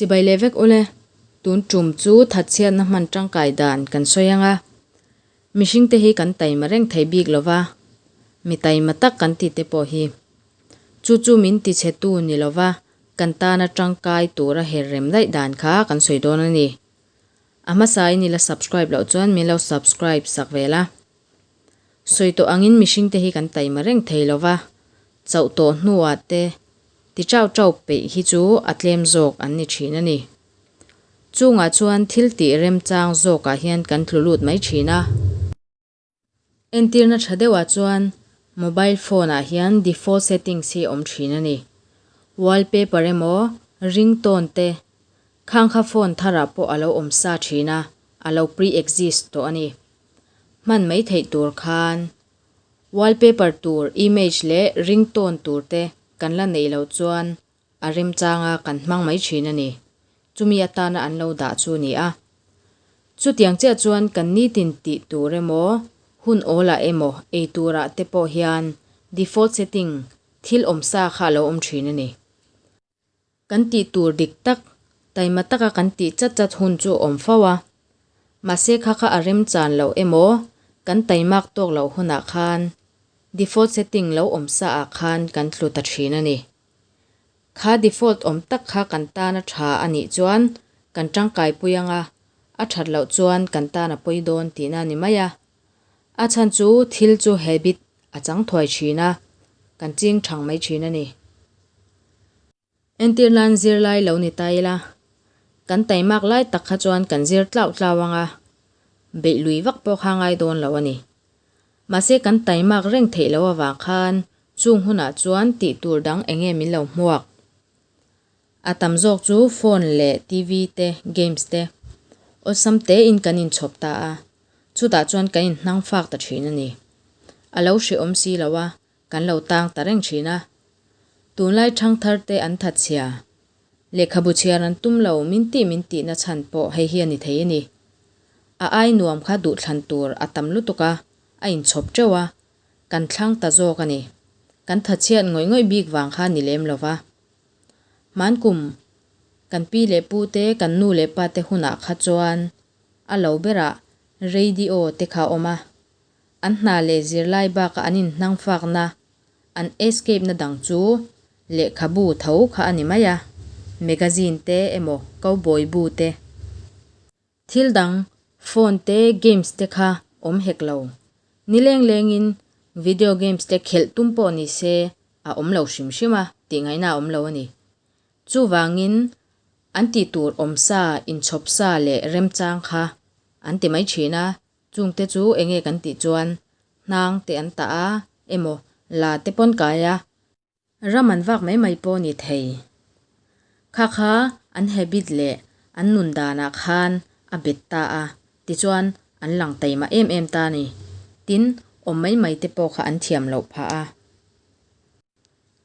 Chibai leh vek ule, tun tum chu thatchhiatna hman tangkai dan kan sawi anga, mihringte hi kan taima reng thei bik lova, mi taima tak kan tihte pawh hi chu chu min tichhetu ni lova kan tana tangkai tura her rem daih dan kha kan sawi dawn a ni. A hmasa i nila subscribe loh chuan min lo subscribe sak ve la. Sawi tawh angin mihringte hi kan taima reng thei lo va, chauh tawh hnuah te ti ṭauh ṭauh peih hi chu a tlem zawk an ni ṭhin a ni. Chungah chuan thil tih remchang zawkah hian kan tlu lut mai ṭhin a. Entirna ṭha deuhah chuan mobile phone-ah hian default settings hi awm ṭhin a ni. Wallpaper emaw ringtone te khang kha phone tharah pawh a lo awm sa ṭhin a, a lo pre-exist tawh a ni. Hman mai theih tur khan wallpaper tur image leh ringtone tur te kan la neih loh chuan a remchang a kan hmang mai thin a ni. Chumi atana an lo dah chu ni a. Chutiang chiah chuan kan nitin tih tur emaw, hun awlah emaw ei turah te pawh hian default setting thil awm sa kha a lo awm thin a ni. Kan tih tur dik tak, taima taka kan tih chat chat hun chu a awm fo a. Mahse kha kha a remchan loh emaw, kan taimak tawk loh hunah khan default setting lo awm sa ah khan kan tlu ta thin a ni. Kha default awm tak kha kan tan a tha a nih chuan kan tangkai pui anga, a that loh chuan kan tan a pawi dawn tihna a ni mai a. A chhan chu thil chu he bit a chang thuai thin a, kan ching thang mai thin a ni. Entir nan zir lai lo ni ta ila, kan tai mak lai tak kha chuan kan zir tlau tlau ang a, beih lui vak pawh kha ngai dawn lo a ni. Mahse kan tai mak reng theih lo avang khan chung hunah chuan tih tur dang enge min lo hmuak? A tam zawk chu phone leh TV te, games te awlsam tein kan inchhawp ta a, chutah chuan kan inhnang fak ta thin a ni. A lo hrehawm si lo a, kan lo tang ta reng thin a. Tunlai thangthar te an that chhia, lehkhabu chhiar an tum lo min tih min tihna chhan pawh hei hi a ni thei a ni. A ai nuam kha duhthlan tur a tam lutuk a, a inchhawp teuh a, kan thlang ta zawk a ni. Kan that chhiat ngawih ngawih bik vang kha ni lem lo va. Hmaan kum kan pi leh pu te, kan nu leh pa te hunah kha chuan a lo berah radio te kha awm a, an hna leh zirlai bakah an inhnangfakna, an escape na dang chu lehkhabu tho kha a ni mai a, magazine te emaw cowboy bu te Thil dang, phone te, games te kha awm hek lo. Ni leng lengin video games te khelh tum pawh nise a awm lo hrim hrim a, tih ngaihna a awm lo a ni. Chuvangin an tih tur awm sa, inchhawp sa leh remchang kha an ti mai thin a, chungte chu enge kan tih chuan hnang te an tah a, emaw la te pawn kai a, Ram an vak mai mai pawh ni thei. Kha kha an habit leh an nun danah khan a bet ta a, tichuan an lang tei mah em em ta ni. Tin, awm mai mai te pawh kha an thiam loh phah a.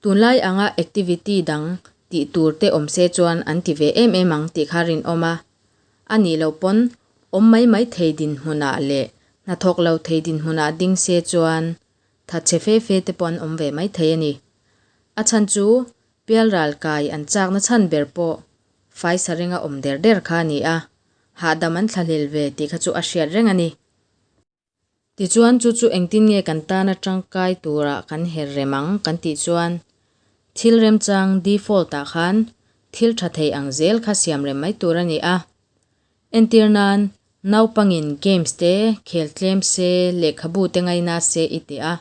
Tunlai anga activity dang tih tur te awm se chuan an ti ve em em ang tih kha rinawm a. A nih loh pawn, awm mai mai thei dinhmunah leh hnathawk lo thei dinhmunah ding se chuan Tha che fe fe te pawh an awm ve maithei a ni. A chhan chu Pialral kai an chakna chhan ber pawh Faisa ringa awm der der kha a ni a, hahdam an thlahlel ve tih kha chu a hriat reng a ni. Tichuan chu chu engtin nge kan tan a tangkai turah kan her rem ang kan tih chuan thil remchang, default, ah khan thil tha thei ang zel kha siam rem mai tur a ni a. Entir nan, naupangin games te khel tlem se, lehkhabu te ngaina se i ti a.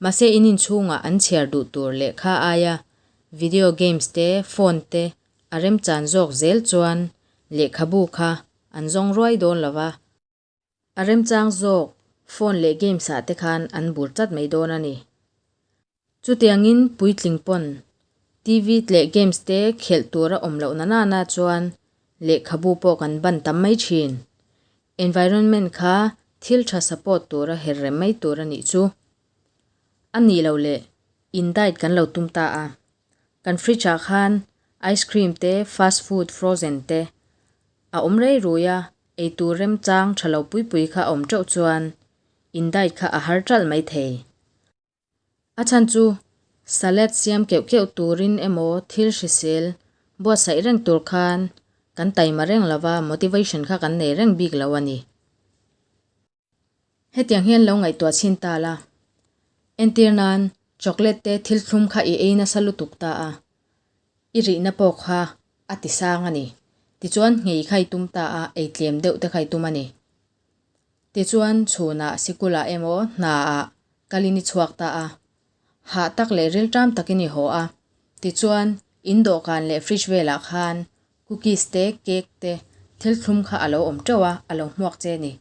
Mahse in inchhungah an chhiar duh tur lehkha aia video games te, phone te a remchan zawk zel chuan lehkhabu kha an zawng ruai dawn lo va. A remchang zawk phone leh games ah te khan an bur tlat mai dawn a ni. Chutiangin puitling pawn TV leh games te khelh tur a awm loh nana na chuan lehkhabu pawh kan ban tam mai thin. Environment kha thil tha support tura her rem mai tur a nih chu. A nih loh leh in diet kan lo tum ta a. Kan fridge ah khan ice cream te, fast food, frozen te a awm rei rui a, Eitur remchang tha lo pui pui kha a awm teuh chuan Indite kha a har ṭalh mai thei. A chhan chu salad siam keuh keuh turin emaw thil hrisel buatsaih reng tur khan kan taima reng lova motivation kha kan nei reng bik lo a ni. Hetiang hian lo ngaihtuah chhin ta la, entir nan chocolate te thil thlum kha i ei nasa lutuk ta a, i rihna pawh kha a ti sang a ni. Tichuan nghei kha i tum ta a, ei tlem deuh te kha i tum a ni. Tichuan chhunah sikula emaw hnaah kal in i chhuak ta a, hah tak leh rilṭam takin i haw a. Tichuan in dawhkan leh fridge velah khan Cookies te, cake te, thil thlum kha a lo awm teuh a, a lo hmuak che ni.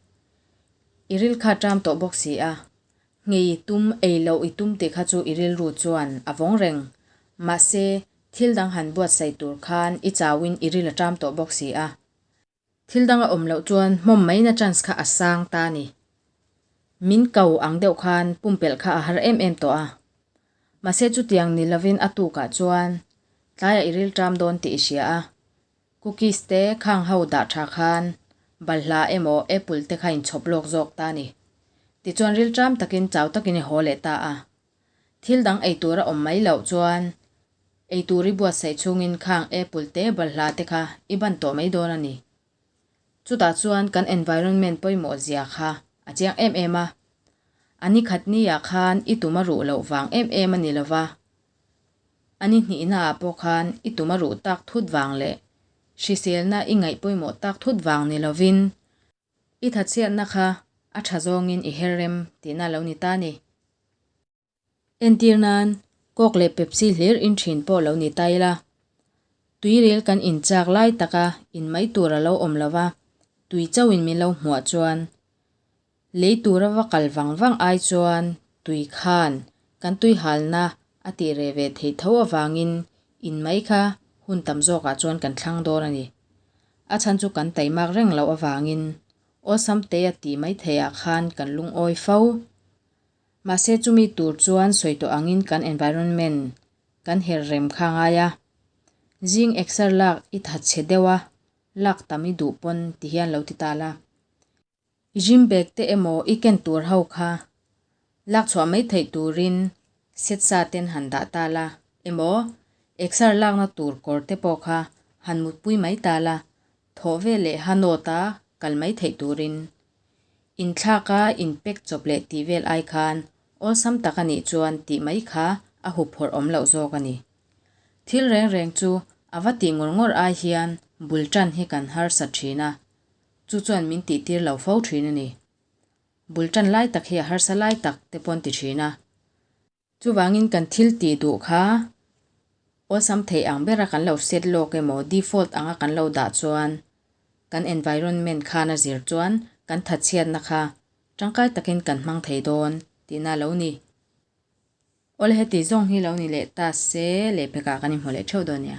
I ril kha ṭam tawh bawk si a, ngei i tum, ei loh i tum tih kha chu i rilru chuan a vawng reng. Mahse, thil dang han buatsaih tur khan i chauin i ril a ṭam tawh bawk si a. Thil dang a awm loh chuan hnawm maina chance kha a sang ta ni. Min kau ang deuh khan pumpelh kha a har em em tawh a, Mahse chutiang ni lovin a tukah chuan tlaiah i rilṭam dawn tih i hria a. Cookies te khang ho dah ṭha khan balhla emaw apple te kha in chhawp lawk zawk ta ni. Tichuan rilṭam takin chau takin i haw leh ta a. Thil dang ei tur a awm mai loh chuan ei tur i buatsaih chungin khang apple te balhla te kha i ban tawh mai dawn a ni. Chutah chuan kan environment pawimawh zia kha a cheng em em a, a ni khat ni ah khan i tum a ruh loh vang em em a ni lo va, a ni hnih na ah pawh khan i tum a ruh tak thut vang leh hrisel na i ngaih pawimawh tak thut vang ni lo vin, i tha chhiat na kha a tha zawng in i her rem tih na lo ni ta ni. Entir nan coke leh pepsi hlir in thin pawh lo ni ta ila, tuiril kan in chak lai taka in mai tur a lo awm lova, tui chauh in min lo hmuah chuan lei tura va kal vang vang ai chuan tui khan kan tui hal na a tih reh ve thei tho avang in in mai kha hun tam zawk ah chuan kan thlang dawn a ni. A chhan chu kan tai mak reng loh avang in awsam te a tih mai thei ah khan kan lungawi fo Mahse chumi tur chuan sawi tawh angin kan environment kan herh rem kha ngai a. Zing exer lak i tha chhe deuh a, lak tam i duh pawn ti hi an lo ti tal a. I gym bag te emaw i ken tur ho kha lak chhuah mai theih turin set sa ten han dah tal a, emaw exer lakna tur kawr te pawh kha han mutpui mai tal a, Thawh ve leh Hanaut a kal mai theih turin inthlak a in pek chawp leh tih vel ai khan awlsam tak a nih chuan tih mai kha a hup phawrh awm loh zawk a ni. Thil reng reng chu a va tih ngawr ngawr ai hian bul tan hi kan harsa thin a, chu chuan min tih tir lo fo thin a ni. Bul tan lai tak hi a harsa lai tak te paw'n ti thin a. Chuvangin kan thil tih duh kha awlsam theih ang bera kan lo set lawk emaw default anga kan lo dah chuan kan environment khan a zir chuan kan tha chhiatna kha tangkai takin kan hmang thei dawn tihna lo ni. Awle heti zawng hi lo ni leh ta se leh phekah kan inhmu leh theuh dawn nia.